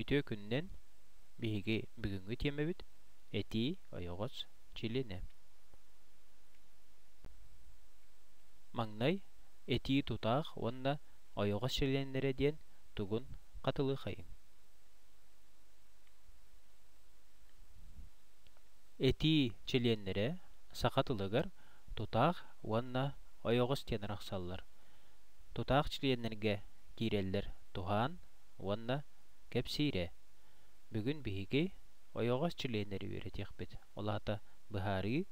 Үтүө күнүнэн! Биһиги бүгүҥҥү тиэмэбит «Этии ойоҕос чилиэнэ». Маҥнай этии тутаах уонна ойоҕос чилиэннэрэ диэн тугун хатылыаххайыҥ? Этии чилиэннэрэ саха тылыгар тутаах уонна ойоҕос диэн арахсаллар. Тутаах чилиэннэргэ киирэллэр туһаан уонна кэпсиирэ. Бүгүн биһиги ойоҕос чилиэннэри үөрэтиэхпит, ол аата быһаарыы,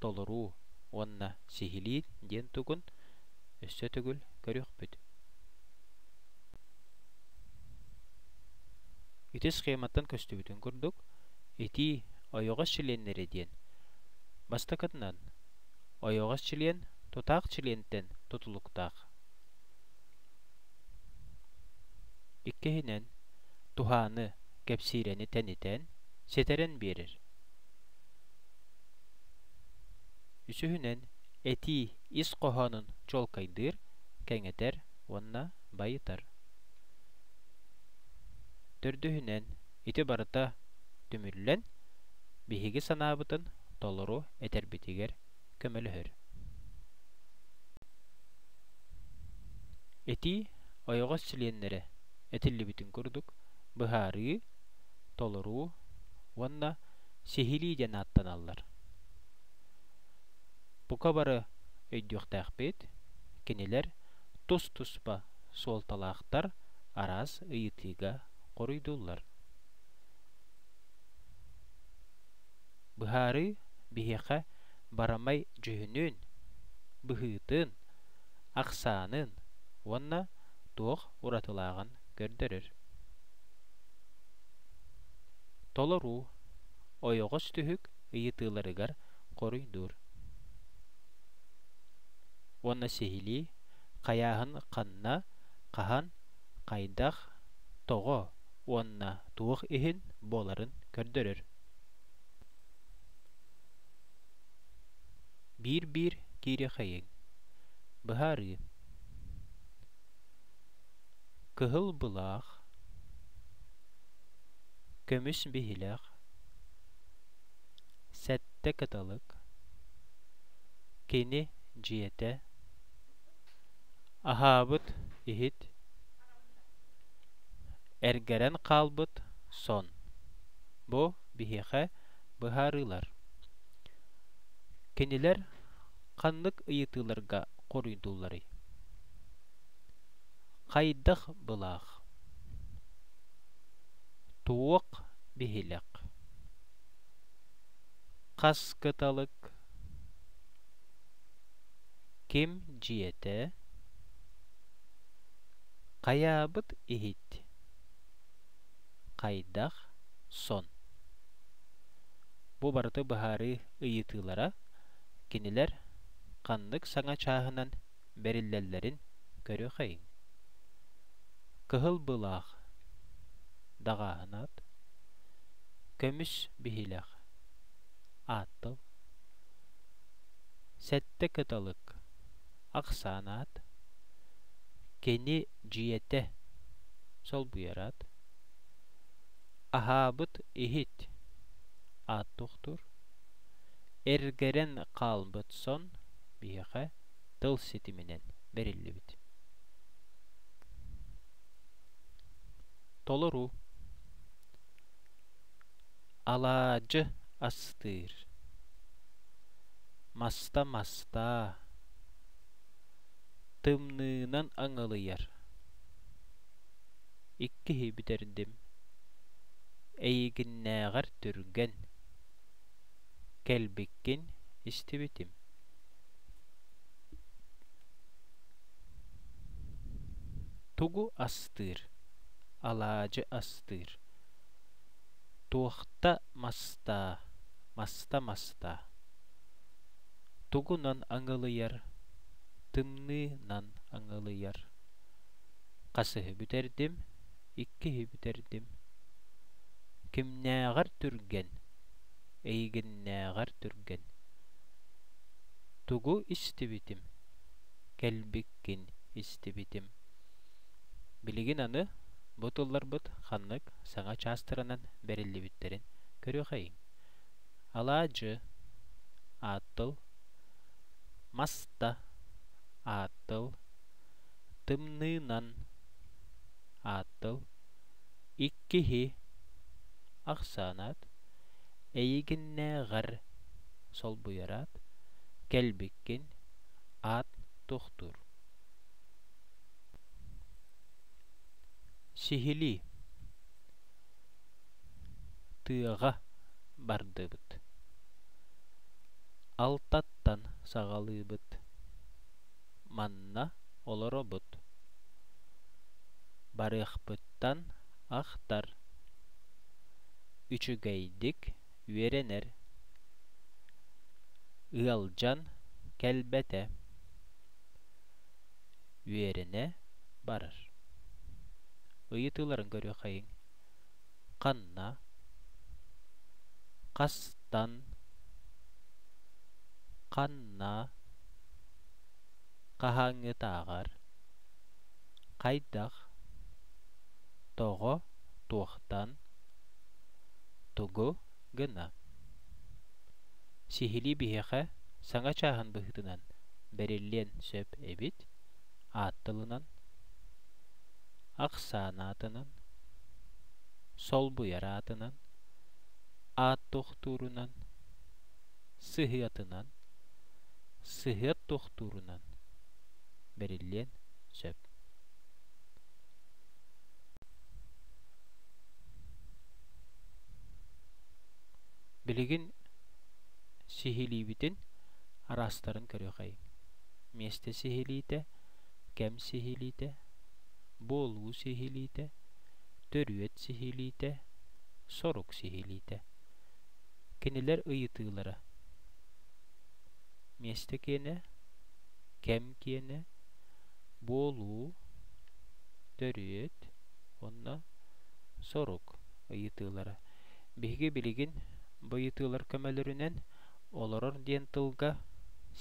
толоруу уонна сиһилии диэн тугун өссө төгүл көрүөхпүт. Ити схематтан көстүбүтүн курдук, Итии ойоҕос чилиэннэрэ диэн. Бастакытынан, ойоҕос чилиэн тутаах чилиэнтэн тутулуктаах. Иккиһинэн, туһааны, кэпсиирэни тэнитэн, ситэрэн биэрэр. Үсүһүнэн, этии ис хоһоонун чуолкайдыыр, кэҥэтэр уонна байытар. Төрдүһүнэн, ити барыта түмүллэн, биһиги санаабытын толору этэрбитигэр көмөлөһөр. Этии ойоҕос чилиэннэрэ этиллибитин курдук, быһаарыы, толоруу уонна сиһилии диэн ааттаналлар. Бука бары өйдүөхтээхпит, кинилэр тус-туспа суолталаахтар араас ыйытыыга хоруйдууллар. Быһаарыы биһиэхэ барамай дьүһүнүн, быһыытын, ахсаанын уонна туох уратылааҕын көрдөрөр. Толоруу ойоҕос түһүк ыйытыыларыгар хоруйдуур. Уонна сиһилии хайааһын ханна, хаһан хайдах, тоҕо уонна туох иһин буоларын көрдөрөр. Биир-биир киириэхэйиҥ. Быһаарыы. Кыһыл былаах, көмүс биһилэх, сэттэ кыталык, кини дьиэтэ, Аһаабыт иһит эргэрэн хаалбыт сон. Бу биһиэхэ быһаарыылар. Кинилэр ханнык ыйытыыларга хоруйдуулларый? Хайдах былаах? Туох биһилэх? Хас кыталык? ким дьиэтэ хайаабыт иһит хайдах сон бу барыта быһаарыы ыйытыылара кинилэр ханнык саҥа чааһынан бэриллэллэрин көрүөхэйиҥ. Кыһыл былаах даҕааһынаат, көмүс биһилэх ааттал, сэттэ кыталык ахсаанаат, кини дьиэтэ солбуйараат, аһаабыт иһит аат тохтуур, эргэрэн хаалбыт сон биһиэхэ тыл ситиминэн бэриллибит толору алаадьы астыыр маста мастаа тымныынан аҥылыйар иккиһи бүтэрдим эйигиннээҕэр түргэн кэлбиккин истибитим тугу астыыр алаадьы астыыр туохта мастаа маста мастаа тугунан аҥылыйар тымныынан аҥылыйар хасыһы бүтэрдим иккиһи бүтэрдим. Кимнээҕэр түргэн, эйигиннээҕэр түргэн. Тугу истибитим, кэлбиккин истибитим. Билигин аны бу тылларбыт ханнык саҥа чаастарынан бэриллибиттэрин көрүөхэйиҥ. Алаадьы, аат тыл, маста, аат тыл, Тымныынан ааттал иккиһи ахсаанаат эйигиннээҕэр солбуйараат кэлбиккин аат тохтуур сиһилии тыаҕа бардыбыт алтаттан саҕалыыбыт Манна олоробут. Барыахпыттан ахтар. Үчүгэйдик үөрэнэр. Ыалдьан кэлбэтэ. Үөрэнэ барар. Ыйытыыларын көрүөххэйиҥ. ханна хастан ханна хаһааҥҥытааҕар хайдах тоҕо туохтан тугу гына сиһилии биһиэхэ саҥа чааһын быһыытынан бэриллиэн сөп эбит аат тылынан, ахсаан аатынан, солбуйар аатынан, аат тохтуурунан, сыһыатынан, сыһыат тохтуурунан бэриллиэн сөп. Билигин сиһилиибитин араастарын көрүөхэйиҥ миэстэ сиһилиитэ, кэм сиһилиитэ, буолуу сиһилиитэ, төрүөт сиһилиитэ, сорук сиһилиитэ. Кинилэр ыйытыылара. Миэстэ киэнэ, кэм киэнэ, буолуу, төрүөт уонна сорук ыйытыылара. Биһиги билигин бу ыйытыылар көмөлөрүнэн олорор диэн тылга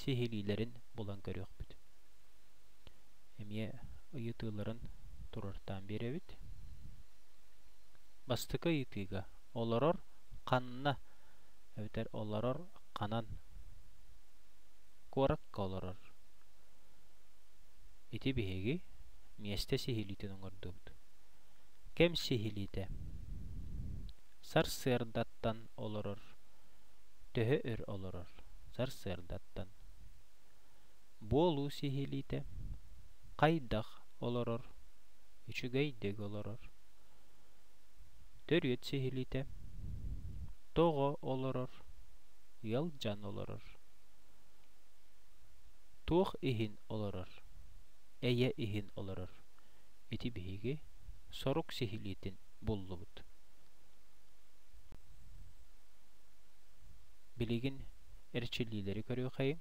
сиһилиилэрин булан көрүөхпүт эмиэ ыйытыыларын туруортаан биэрэбит бастакы ыйытыыга олорор ханна эбэтэр олорор ханан куоракка олорор ити биһиги миэстэ сиһилиитин оҥордубут кэм сиһилиитэ Сарсыардаттан олорор. Төһө өр олорор? Сарсыардаттан. Буолуу сиһилиитэ. Хайдах олорор? Үчүгэйдик олорор. Төрүөт сиһилиитэ. Тоҕо олорор? Ыалдьан олорор. Туох иһин олорор? Эйэ иһин олорор. Ити биһиги сорук сиһилиитин буллубут. Билигин эрчиллиилэри көрүөххэйиҥ.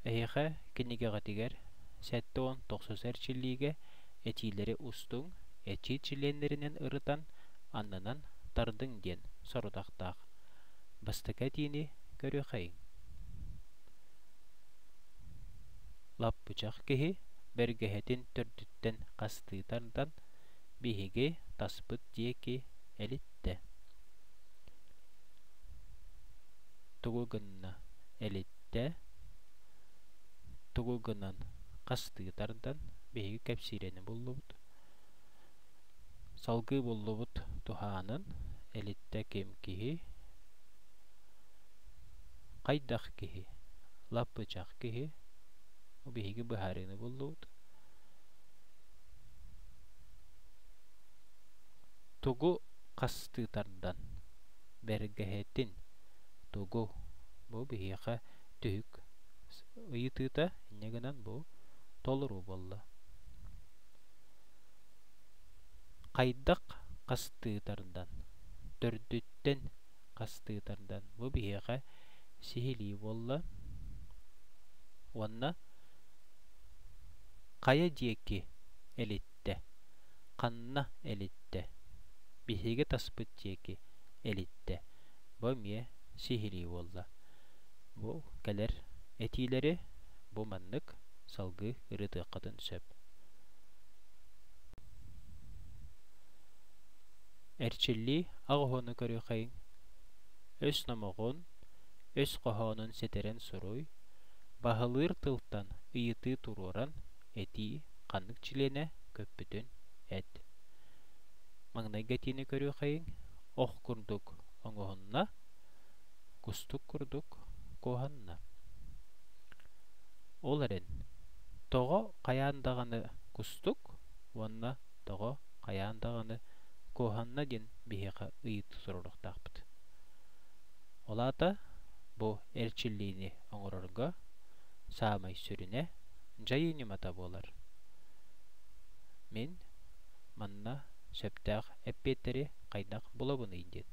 Эһиэхэ кинигэҕитигэр сэттэ уон тохсус эрчиллиигэ этиилэри устуҥ, этии чилиэннэринэн ырытан, аннынан тардыҥ диэн сорудахтаах. Бастакы этиини көрүөххэйиҥ. лаппычах киһи бэргэһэтин төрдүттэн хастыы тардан, биһиги таспыт диэки элиттэ. Тугу гынна элиттэ, тугу гынан хастыы тардан, биһиги кэпсиирэни буллубут Салгыы буллубут туһаанын Элиттэ ким киһий Хайдах киһий Лаппычах киһи Бу биһиги быһаарыыны буллубут Тугу хастыы тардан Бэргэһэтин Тугу Бу биһиэхэ түһүк ыйытыыта Инньэ гынан бу толоруу буолла Хайдах хастыы тардан, төрдүттэн хастыы тардан бу биһиэхэ сиһилии буолла уонна хайа диэки элиттэ, ханна элиттэ, биһиги таспыт диэки элиттэ бу эмиэ сиһилии буолла. Бу кэлэр этиилэри бу маннык салгыы ырытыаххытын сөп эрчиллии ах уһуну көрүөхэйиҥ өс номоҕун өс хоһоонун сэтэрэн суруй баһылыыр тылтан ыйытыы туруоран этии ханнык чилиэнэ көппүтүн эт маҥнайгы этиини көрүөхэйиҥ ох курдук оҥоһунна Кустук курдук куоһанна. Ол эрэн, тоҕо хайаан даҕаны кустук уонна тоҕо хайаан даҕаны куоһанна диэн биһиэхэ ыйытыы суруйуохтаахпыт. Ол аата бу эрчиллиини оҥорорго саамай сүрүнэ дьайыы ньымата буолар. Мин манна сөптөөх эппиэттэри хайдах булабыный диэн.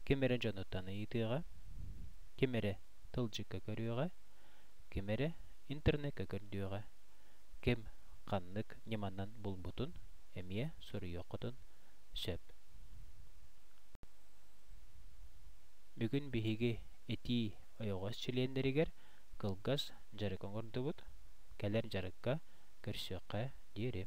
Ким эрэ дьонуттан ыйытыаҕа, ким эрэ тылдьыкка көрүөҕэ, ким эрэ интернекка көрдүөҕэ. Ким ханнык ньыманан булбутун эмиэ суруйуоххутун сөп. Бүгүн биһиги этии ойоҕос чилиэннэригэр кылгас дьарык оҥордубут. Кэлэр дьарыкка көрсүөххэ диэри.